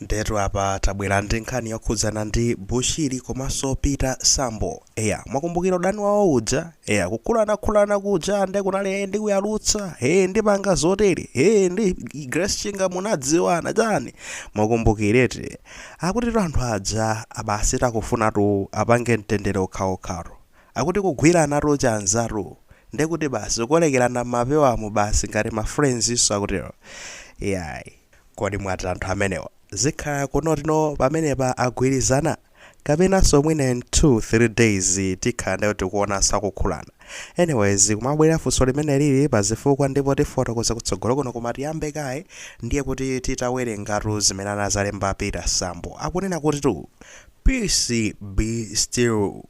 Ndetu apa tabwera ndi nkhani yokhudzana ndi Bushiri komanso Peter Sambo. Eya, mwakumbukira udani wawo uja? Eya, kukhulanakhulana kuja nde kunali ee ndikuyalutsa, ee ndipanga zotere, ee ndi Grace Chinga munadziwana chani. Mwakumbukireti. Akutitu anthu aja basi akufunatu apange mtendere okhaokhatu. Akuti kugwiranatu chanzatu. Ndekuti basi kukolekerana m'mapewamu basi ngati ma friends-nso akutero. Iyayi. Kodi mwati anthu amenewa zikhala kunoti no pamenepa agwirizana? Kapenanso mwina in 2, 3 days tikhala nde tikuonanso akukhulana. Anyways kumabwera funso limeneli pa zifukwa ndipo tifotokoza kutsogolo kuno koma tiyambe kaye ndiye kuti titawerengatu zimene anazalemba Peter Sambo. Akunena kutitu peace be still.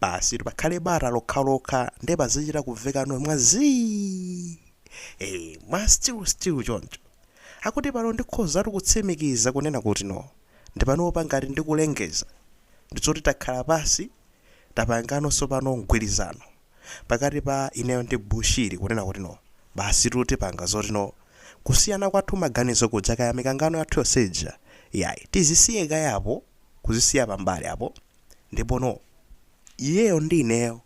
Basitu pakhale bata lokhalokha nde pazichita kumvekano mwa zii! Eeh mwa still still choncho. Akuti pano ndikhozatu kutsimikiza kunena kuti no. Nde panopa ngati ndikulengeza ndi zoti takhala pansi tapanga no tsopano mgwirizano pakati pa ineyo ndi Bushiri kunena kuti no basitu tipanga zoti no kusiyana kwathu maganizo kuja kaya mikangano yathu yonse ija iyayi tizisiye kaye apo kuzisiya pambali apo Ndipo no, iyeyo ndi ineyo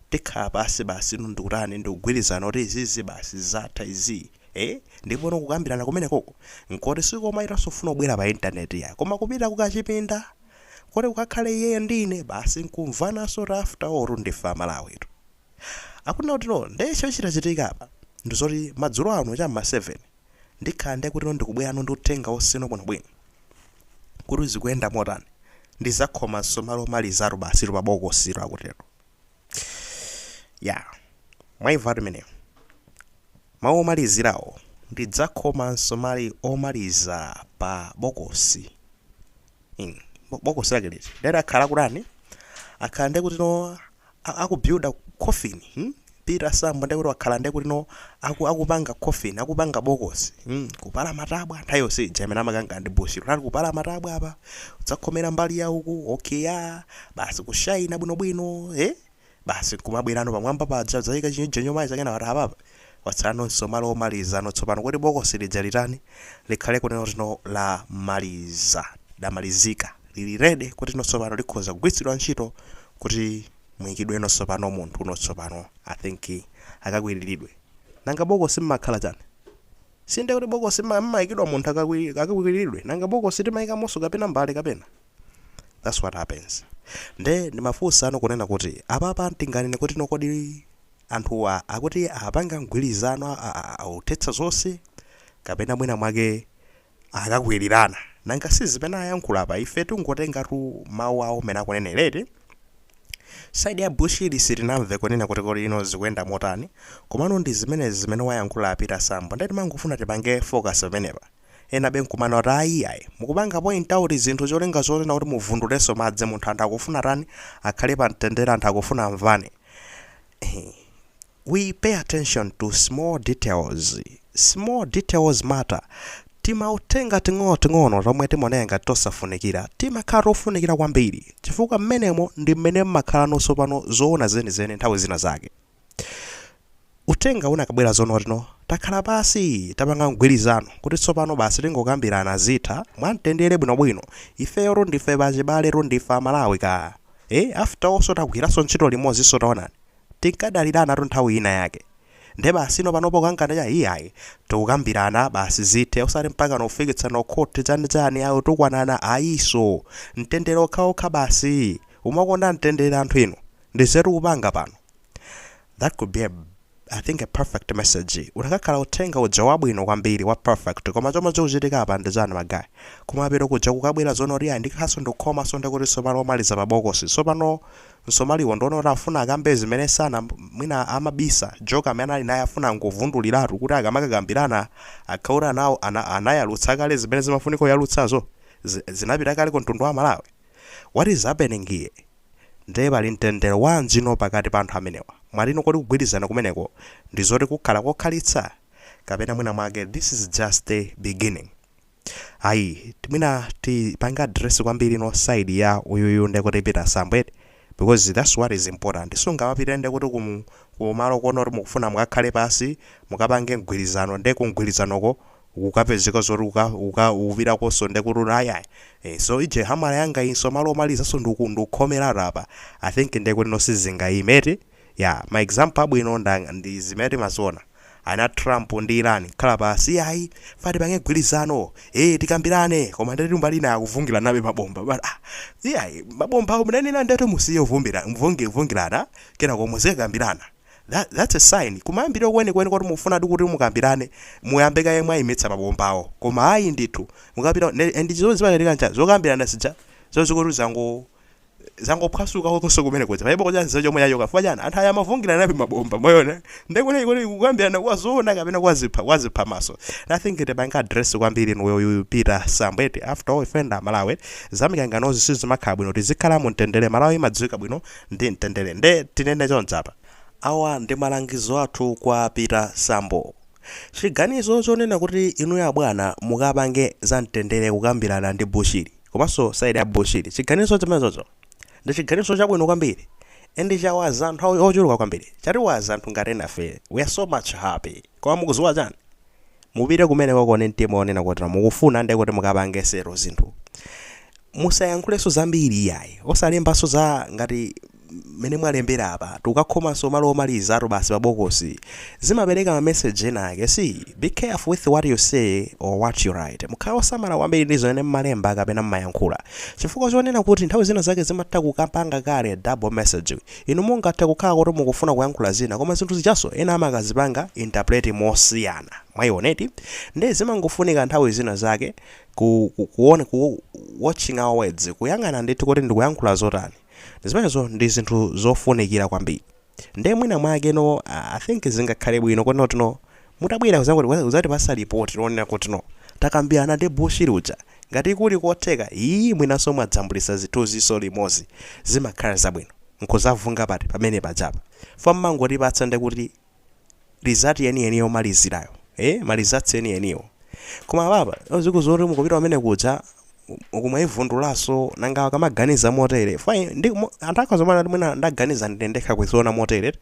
tikhala pansi basi no ndikutani, ndikugwirizana kuti izizi basi zatha izii. Eeh, ndipo no kukambirana kumenekoko nkoti sikomayitanso kufuna kubwera pa internet iyayi, koma kupita kukachipinda koti kukakhale iyeyo ndi ine basi nkumvananso kuti after all tu ndife a Malawitu. Akunena kuti no, nde chochitika apa ndizoti madzulo ano cha mma 7, Ndikhala nde kuti no ndikubwerano ndi uthenga wonse no bwinobwino. Kuti zikuyenda motani? Ndizakhoma nsomali omalizatu basitu pa bokositu akutero. Yaa. Mwaimvatu imeneyo. Mau omalizirawo. Ndidzakhoma nsomali omaliza pa bokosi. Ing, Bo, bokosi lake liti? Nde akhala akutani? Akhala nde kuti no a- akubuilda coffin hmm? peter sambo ndekuti wakhala ndekuti no aku, akupanga coffin akupanga bokosi hmm? kupala matabwa nthawi yonse ija imene amakanga ndi bushiri anali kupala matabwa apa udzakhomera mbali ya uku okeya basi kushaina bwinobwino eh? basi kumabwerano pamwamba paja zaika chinyojo nyomayi zakezo wati apapa Watsala nsomali omaliza no tsopano kuti bokosi lija litani? Likhale kunena kuti no lamaliza, lamalizika, lili ready kuti no tsopano likhoza kugwiritsidwa ntchito kuti muyikidwe no tsopano munthu no tsopano I think akakwiriridwe. Nanga bokosi mmakhala chani? Si ndiye kuti bokosi mma- mmaikidwa munthu akakwi- akakwiriridwe? Nanga bokosi timaikamonso kapena mbale kapena? That's what happens. Nde ndimafunsa no kunena kuti apapa tinganene kuti no kodi anthuwa akuti apanga mgwirizano othetsa zonse kapena mwina mwake akakwirirana nanga si zimene ayankhula apa ife tingotengatu mau awo mmene akunenera eti side ya Bushiri sitinamve kunena kuti kodi ino zikuyenda motani komano ndi zimenezi zimene wayankhula Peter Sambo nde timangofuna tipange focus pamenepa enabe nkumanena kuti ayi ayi mukupanga point out zinthu cholinga chonena kuti muvundulenso madzi muntha anthu akufuna atani akhale pa mtendere anthu akufuna amvane Ehe. we pay attention to small details small details matter timauthenga ting'onoting'ono tomwe timaoneka ngati tosafunikira timakhala tofunikira kwambiri chifukwa mmenemo ndi mmene mmakhala nonso pano zoona zenizeni nthawi zina zake uthenga unakabwera zonotino takhala pansi tapanga mgwirizano kuti tsopano basi tingokambirana zithe mwamtendere bwinobwino ifeyo ndife pachibale ndife amalawi ka e after all so tagwiranso ntchito limodzinso taonani tinkadaliranatu nthawi ina yake nde basi ino panopo kangana cha iyayi tikukambirana basi zithe osati mpaka nkufikitsana kukhoti chani chani ayo tikunena ayinso mtendere okhaokha basi mumakonda mtendere anthu inu Nde zimene mukupanga pano? That could be a I think a perfect message ukanakhala uthenga uja wabwino kwambiri wa perfect koma chomwe chikuchitika apa ndi chani ma guy kumapeto kuja kukabwera zonena kuti ayi ndikhanso ndikukhomanso ndikuti tsopano omaliza pa bokosi tsopano msomaliwo nde wonena kuti afuna akambe zimene sana mwina amabisa joka amene anali naye afuna angovunduliratu kuti akamakakambirana akhale kuti ana, anayalutsa kale zimene zimafunika kuyalutsazo zi- zinapita kale ku mtundu wa Malawi what is happening here Nde pali mtendere wanjino pakati pa anthu amenewa? Mwati ino kodi kugwirizana kumeneko ndizoti kukakhala kokhalitsa? Kapena mwina mwake this is just the beginning? Ayi mwina tipange address kwambiri ino side ya uyuyu nde kuti Peter Sambo eti? Because that's what is important. Sungamapite nde kuti ku kumalo konoti mukufuna mukakhale pansi mukapange mgwirizano nde ku mgwirizanoko ukukapezeka zoti uka uka ukupitakonso ndekuti ayayi eh, so iye hamala yanga inso malo womalizanso ndiku ndikukhomeratu apa i think ndekuti no sizingayime eti ya ma example abwino nda ndi zimene timaziona a trump ndi iran akhala pansi ayi ife tipange mgwirizano eh tikambirane koma ndeti mbali ina akuvungiranabe mabomba but ah iyayi mabomba awo munanena ndeti musiye uvumbira mvungi vungilana kenako muzikakambirana That that's a sign kumayambiriro kwenikweni koti mukufunadi kuti mukambirane muyambe kaye mwayimitsa mabombawo koma ayi ndithu mukapita ne- and zimene zimachitika ncha zokambirana zija zonse kuti zango zangophwasuka kokonso kumene kuja palibe kuja nzeru chomwe yayoka chifukwa chani anthu aya amavungiranabe mabomba mosonyeza ndekuti kuti kukambirana kwazoona kapena kwachipha kwachiphamaso nothing tipange address kwambiri ino ya uyu peter sambo eti after all ife nda amalawi zamikanganozi sizimakhala bwino tizikhala mu mtendere malawi imadziwika bwino ndi mtendere nde tinene chonchi apa. Awa ndi malangizo athu kwa Peter Sambo. Chiganizo chonena kuti inuyo abwana mukapange za mtendere kukambirana ndi Bushiri komanso side ya Bushiri chiganizo chimenechocho ndi chiganizo chabwino kwambiri and chawaza anthu ochuluka kwambiri chatiwaza anthu ngati enafe we are so much happy. Koma mukuziwa chani? Mupite kumenekoko ndi mtima onena kuti mukufuna ndekuti mukapange settle zinthu. Musayankhulenso zambiri iyayi. Osalembanso za ngati mmene mwalembera apa. Tikukakhomanso malo omalizatu basi pa bokosi. Zimapereka ma message ena ake. See, be careful with what you say or what you write. Mukhale osamala kwambiri ndi zimene mmalemba kapena mmayankhula. Chifukwa chonena kuti nthawi zina zake zimatha kukapanga kale double message. Inu mungathe kukhala kuti mukufuna kuyankhula zina, koma zinthu zijanso ena amakazipanga interpret mosiyana. Mwayiona eti? Nde zimangofunika nthawi zina zake ku, ku, kuwona, ku, watching our words, kuyang'ana ndithu kuti ndikuyankhula zotani. Zimenezo ndi zinthu zofunikira kwambiri. Nde mwina mwake no, I think zingakhale bwino kuti no, no, Mutabwera kuzangoti uzatipasa report lonena kuti no takambirana ndi bushiri uja ngati kuli kotheka ii mwinanso mwadzambulisa zithunzinso limozi zimakhala zabwino nkuzavunga pati pamene pajapa fukwa mmangotipatsa ndekuti result yeni yeni yomalizirayo ee ma results eni eniwo koma apapa zikuziwa kuti mukupita kumenekuja uku mwaivundulaso nanga akamaganiza motere fukwa ndimo anthu akhoza kumana kuti mwina ndaganiza ndine ndekha kuziona motere eti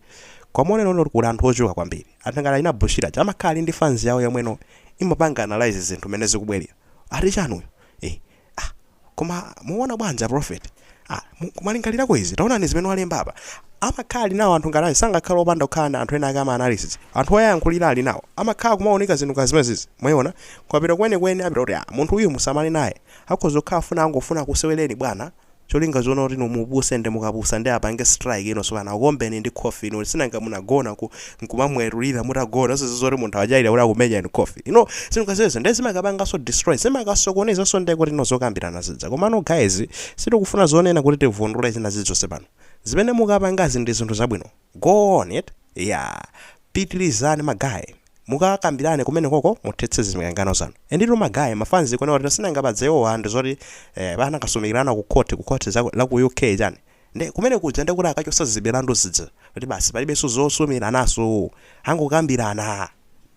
koma onena kuti kuli anthu ochuluka kwambiri. Anthu ngati achina Bushiri aja amakhala ali ndi fans yawo yomwe no imapanga analyse zinthu mmene zikubwelera. Ati chani uyu? Eh ah koma muona bwanji a prophet? Ah mwalingalirako izi? Taonani zimene walemba apa. Amakhala ali nawo anthu ngati aja sangakhale opanda kukhala na anthu ena ake ama analysis. Anthu oyayankhulira ali nawo. Amakhala kumaunika zinthu ngati zimenezizi. Mwaiona? Kukapita kwenikweni apita kuti ah munthu uyu musamale naye. Akhoza kukhala akufuna angofuna akusewereni bwana. cholinga chonena kuti inu mupuse nde mukapusa nde apange strike ino tsopano akuombeni ndi khofi inu sinanga munagona ku nkumamwetulira mutagona osaziwa kuti munthu achaira kuti akumenya inu khofi ino sinukaziweza nde zimakapangaso destroy zimakasokonezaso nde kuti ino zokambirana zija komano guys sitikufuna zonena kuti tivundule zina zilizonse pano zimene mukapangazi ndi zinthu zabwino Go on with it yeah pitilizani ma guys mukakambilane kumenekoko muthetse zimikangano zanu enditu ma guys ma fans kuno lero sindangabadze iwowa ndizoti eh anakasumikilana ku court ku court la ku UK chani nde kumenekuja ndekuti akachosa zimilandu zija kuti basi palibenso zosumilananso angokambilana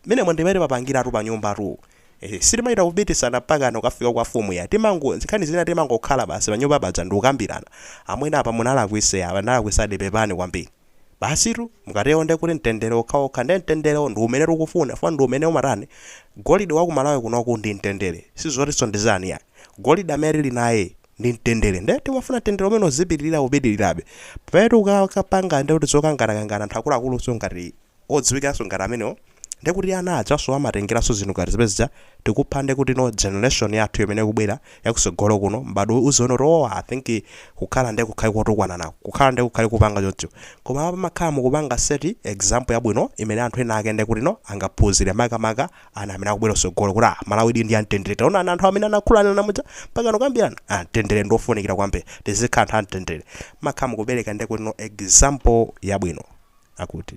menemo ndimene papangilatu panyumbatu Ehe sitimachita kupikisana mpakana kukafika kwa mfumu iyayi timango nkhani zina timangokhala basi panyumba paja ndikukambirana amwene apa munalakwisa apa ndinalakwisadi pepani kwambiri basitu mukatero nde kuti mtendere okhaokha nde mtenderewo ndiumene tikufuna chifukwa ndiumene umatani golide waku Malawi kunoku ndi mtendere sizotinso ndi chani iyayi golide amene tili naye ndi mtendere nde timafuna mtendere umene uzipitilira upitilirebe pamene tikukapanga nde kuti zokanganakangana anthu akuluakulunso ngati odziwikanso ngati amenewo nde kuti ana ajanso amatengeranso zinthu ngati zimene zija tikupha nde kuti no generation yathu imene ikubwera yakusogolo kuno m'badwo uziona kuti oh i think kukhala nde kukhale kotukwananako kukhala nde kukhale kupanga choncho koma apa mumakhala mukupanga set example yabwino imene anthu ena ake nde kuti no angaphunzire makamaka ana amene akubwera kutsogolo kuti ah Malawidi ndi yamtendere taonani anthu amene anayankhulana muja mpaka akambirana ah mtendere ndi wofunikira kwambiri tizikhala anthu amtendere mumakhala mukupereka ndekuti no example yabwino akuti